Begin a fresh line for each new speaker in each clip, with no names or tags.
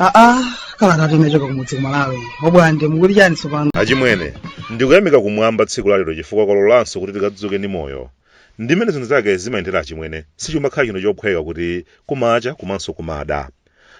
aa kalatatu imachoka kumudzi kumalawi obwande mukuti chani tsopano
achimwene ndikuyamika kumwamba tsiku lalero chifukwa kwalolanso kuti tikadzuke ndi moyo ndimene zinthu zake zimayendera achimwene sichimakhala chinthu chophweka kuti kumacha komanso kumada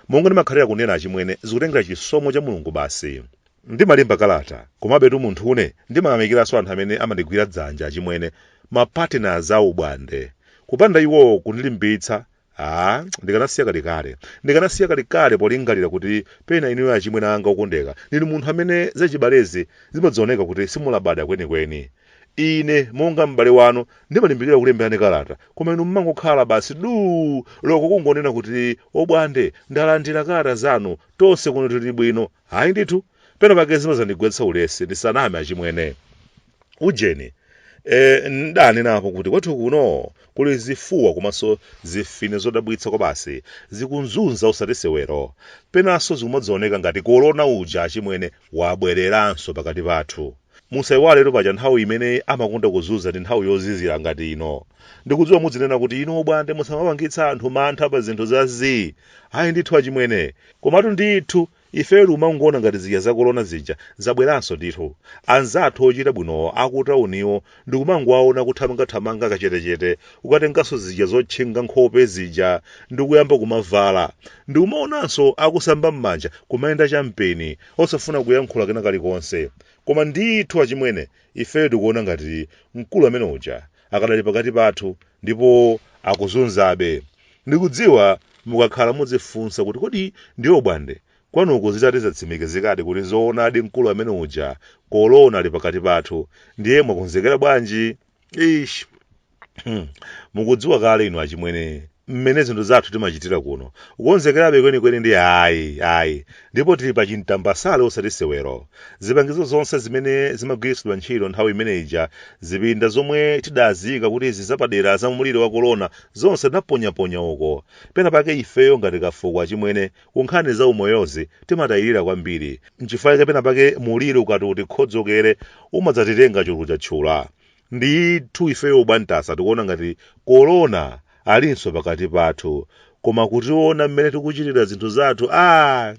monga ndimakhalira kunena achimwene zikutengera chisomo cha mulungu basi ndimalemba kalata komabetu munthune ndimayamikiranso anthu amene amandigwira dzanja achimwene mapartners a obwande kupanda iwo kundilimbitsa a ndikanasiya kalekale ndikanasiya kalekale polingalira kuti pena inuyo achimwene anga okondeka ndinu munthu amene zachibalezi zimadzaoneka kuti simulabada kwenikweni Ine monga m'bale wanu ndimalimbikira kulemberani kalata, koma inu mmangokhala basi duu, loko kungonena kuti Obwande ndalandira kalata zanu, tonse kuno tili bwino. Ayi ndithu, pena pake zimadzandigwetsa ulesi, ndisaname achimwene. Ujeni, eh, n'danenapo kuti kwathu kuno kuli zifuwa komanso zimfine zodabwitsa kwabasi, zikuzunza osati sewero. Penanso zikumadzaoneka ngati korona uja achimwene, wabwereranso pakati pathu. Musaiwaletu paja nthawi imene amakonda kuzunza ndi nthawi yozizira ngati ino. Ndikudziwa mudzinena kuti, Inu Obwande musamapangitsa anthu mantha pa zinthu za zii. Ayi ndithu achimwene. Komatu ndithu, ifetu tikumangoona ngati zija za kolona zija zabweranso ndithu. Anzathu ochita bwinowo akutauniwo ndikumangowaona kuthamangathamanga kachetechete kukatenganso zija zotchinga nkhope zija ndikuyamba kumavala ndikumaonanso akusamba m'manja kumayenda champeni osafuna kuyankhula kena kalikonse koma ndithu achimwene ifeyo tikuona ngati mkulu amene uja akadali pakati pathu ndipo akuzunzabe ndikudziwa mukakhala mudzifunsa kuti kodi ndiye obwande Kwanuko zitati zatsimikizikadi kuti zoonadi mkulu amene uja kolona ali pakati pathu ndiye mwakonzekera bwanji? Eish! Hmm. Mukudziwa kale inu achimwene mmene zinthu zathu timachitira kuno. Kukonzekerabe kwenikweni ndi ayi, ayi. Ndipo tili pa chintambasale osati sewero. Zipangizo zonse zimene zimagwiritsidwa ntchito nthawi imene ija, zipinda zomwe tidaziika kuti izi zapadera za mliri wa kolona, zonse tinaponyaponya uko. Penapake ifeyo ngati kafuko achimwene Ku nkhani za umoyozi timatayirira kwambiri. N'chifukwa chake pena pake mliri ukati utikhodzokere umadzatitenga chulu chatchula. Ndithu ifeyo obwantasa tikuona ngati Corona alinso pakati pathu. Koma kutiona mmene tikuchitira zinthu zathu, aah!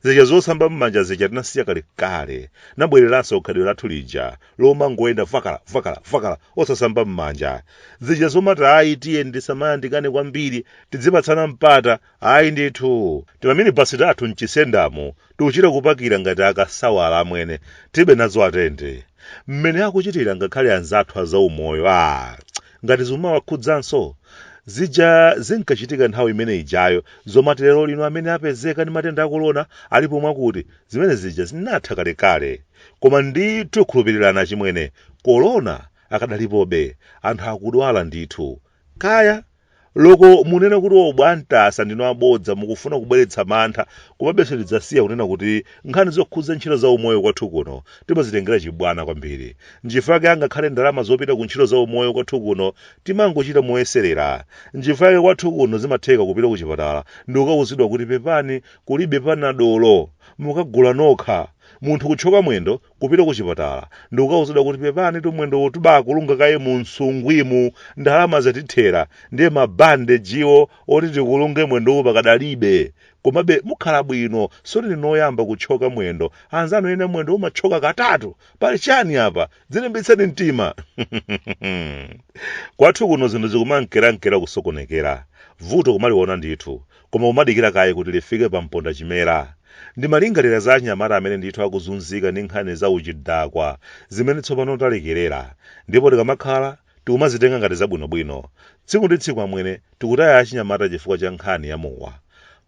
Zija zosamba m'manja zija tinasiya kalekale. Labwereranso khalidwe lathu lija lomangoyenda vakala, vakala, vakala osasamba m'manja. Zija zomati ayi tiyeni tisamayandikane kwambiri, tidzipatsana mpata Ayi ndithu, timaminibasi tathu m'chisendamo tikuchita kupakira ngati akasawala amwene, tilibe nazo atende. Mmene akuchitira ngakhale anzathu a zaumoyo aah ngati zikumawakhudzanso? Zija zinkachitika nthawi imene ijayo zomati lero lino amene apezeka ndi matenda a Corona alipo mwakuti, zimene zija zinatha kalekale. Koma ndithu khulupirirani achimwene, Corona akadalipobe, anthu akudwala ndithu. Kaya! Loko munene kuti o bwaMtasa ndinu abodza mukufuna kubweretsa mantha komabe sindidzasiya kunena kuti nkhani zokhudza ntchito za umoyo kwathu kuno timazitengera chibwana kwambiri nchifukwa chake angakhale ndalama zopita ku ntchito za umoyo kwathu kuno timangochita moyeserera nchifukwa chake kwathu kuno zimatheka kupita ku chipatala ndikukauzidwa kuti pepani kulibe panadolo mukagula nokha munthu kuthyoka mwendo kupita kuchipatala ndikukauzidwa kuti pepanitu mwendowu tubakulunga kaye mu nsungwimu, ndalama zatithera ndiye ma bandejiwo oti tikulunge mwendowu pakadalibe komabe mukhala bwino sikuti ndinu oyamba kuthyoka mwendo anzanu ena mwendo umathyoka katatu pali chani apa dzilimbitseni mtima kwathu kuno zinthu zikumankerankera kusokonekera vuto kumaliona ndithu koma kumadikira kaye kuti lifike pa mpondachimera. Ndimalingalira za achinyamata amene ndithu akuzunzika ndi nkhani za uchidakwa zimene tsopano talekerera, ndipo tikamakhala tikumazitenga ngati zabwinobwino. Tsiku ndi tsiku amwene, tikutaya achinyamata chifukwa cha nkhani ya mowa.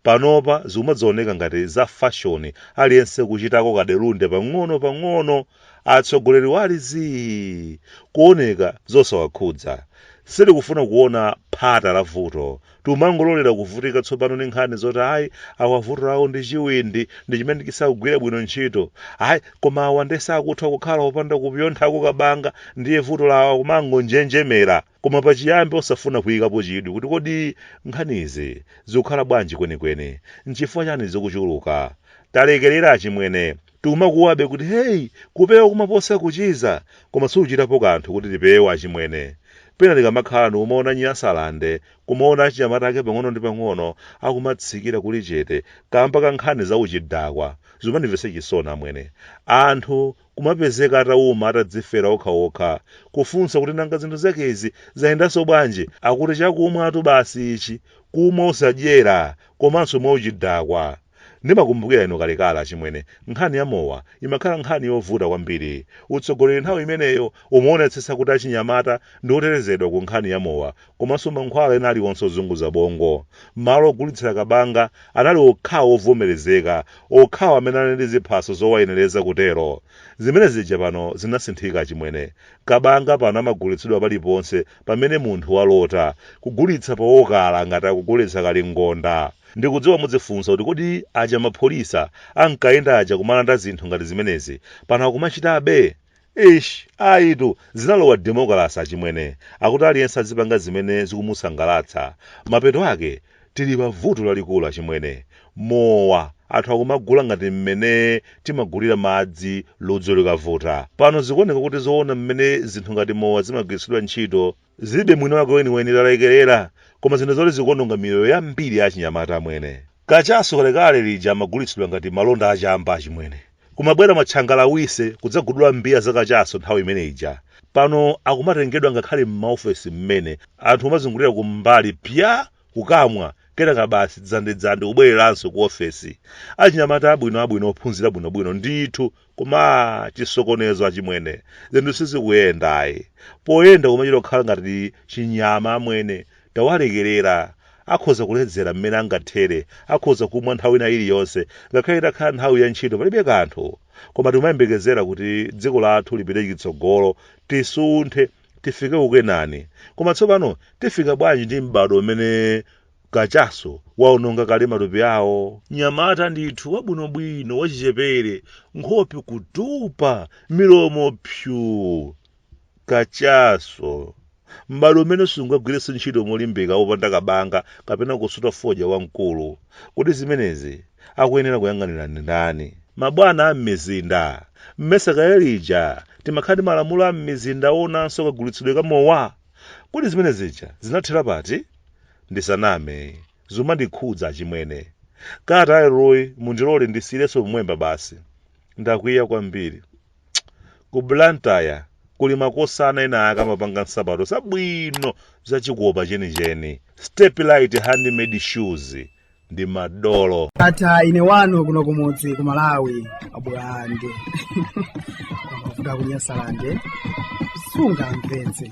Panopa zikumadzaoneka ngati za fashoni aliyense kuchitako kadelunde pang'onopang'ono. Atsogoleriwo ali zii, kuoneka zosawakhudza. Sitikufuna kuona phata la vuto Tikumangololera kuvutika tsopano ndi nkhani zoti ayi awa vuto lawo ndi chiwindi ndi chimene chisakugwira bwino ntchito. Ayi koma awa nde sakutha kukhala opanda kupyonthako kabanga ndiye vuto lawo kumangonjenjemera. Koma pachiyambi osafuna kuyikapo chidwi kuti kodi nkhanizi zikukhala bwanji kwenikweni? Nchifukwa chani zikuchuluka? Talekerera achimwene, Tikumakuwabe kuti hey, kupewa kumaposa kuchiza, koma sitikuchitapo kanthu kuti tipewe achimwene. Pena tikamakhala ndi kumaona Nyasalande, kumaona achinyamata ake pang'ono ndi pang'ono akumatsikira kuli chete kamba ka nkhani za uchidakwa, zimandimvetsa chisoni amwene. Anthu kumapezeka atauma atadzifera okha okha, kufunsa kuti nanga zinthu zakezi zayendanso bwanji? Akuti chakumwatu basi ichi, kumwa osadyera komanso mwauchidakwa. Ndimakumbukira inu kalekale achimwene, nkhani ya mowa imakhala nkhani yovuta kwambiri. Utsogoleri nthawi imeneyo umaonetsetsa kuti achinyamata ndi otetezedwa ku nkhani ya mowa komanso mankhwala ena aliwonse ozunguza bongo. Malo ogulitsira kabanga anali okhawo ovomerezeka, okhawo amene anali ndi ziphaso zowayenereza kutero. Zimene zija pano zinasinthika achimwene. Kabanga pano amagulitsidwa paliponse pamene munthu walota, kugulitsa pa okala ngati akugulitsa kalingonda. Ndikudziwa mudzifunsa kuti kodi aja mapholisa ankayenda aja kumalanda zinthu ngati zimenezi pano akumachitabe? Eish ayitu zinalowa demokalase achimwene akuti aliyense azipanga zimene zikumusangalatsa mapeto ake Tili pa vuto lalikulu achimwene. Mowa anthu akumagula ngati mmene timagulira madzi ludzu likavuta. Pano zikuoneka kuti zoona mmene zinthu ngati mowa zimagwiritsidwa ntchito zilibe mwini wake weniweni talekerera koma zinthu zoti zikuononga miyoyo yambiri ya achinyamata amwene. Kachaso kalekale lija amagulitsidwa ngati malonda a chamba achimwene. Kumabwera matchangalawise kudzagudula mbiya za kachaso nthawi imene ija. Pano akumatengedwa ngakhale m'maofesi mmene, anthu kumazungulira kumbali pya! kukamwa, kenaka basi dzandidzandi kubwereranso ku ofesi. Achinyamata abwino abwino ophunzira bwinobwino ndithu koma aah chisokonezo achimwene, zinthu sizikuyenda ayi. Poyenda kumachita kukhala ngati chinyama amwene, Tawalekerera. Akhoza kuledzera mmene angathere, akhoza kumwa nthawi ina iliyonse, ngakhale itakhala nthawi ya ntchito palibe kanthu. Koma timayembekezera kuti dziko lathu lipite chitsogolo, tisunthe, tifike ku Kenani. Koma tsopano tifika bwanji ndi m'badwo umene kachaso waononga kale matupi awo? Mnyamata ndithu wabwinobwino wachichepere, nkhope kutupa, milomo psuu! Kachaso. M'badwo umene sungagwirenso ntchito molimbika wopanda kabanga kapena kusuta fodya wamkulu. Kodi zimenezi akuyenera kuyang'anira ndi ndani? Mabwana a m'mizinda. Mmesa kale lija timakhala ndi malamulo a m'mizinda oonanso kagulitsidwe ka mowa? Kodi zimene zija zinathera pati? Ndisaname, zumandikhudza achimwene. Kalata ya leroyi mundilole ndisiyirenso pomwepa basi. Ndakwiya kwambiri. Ku Blantyre kuli makosana enaake amapanga nsapato zabwino za chikopa chenicheni, Step-Lite Handmade Shoes, ndi madolo. Ndatha ine wanu
kuno kumudzi ku Malawi abwande kwa mavuta ku Nyasalande sungamvetse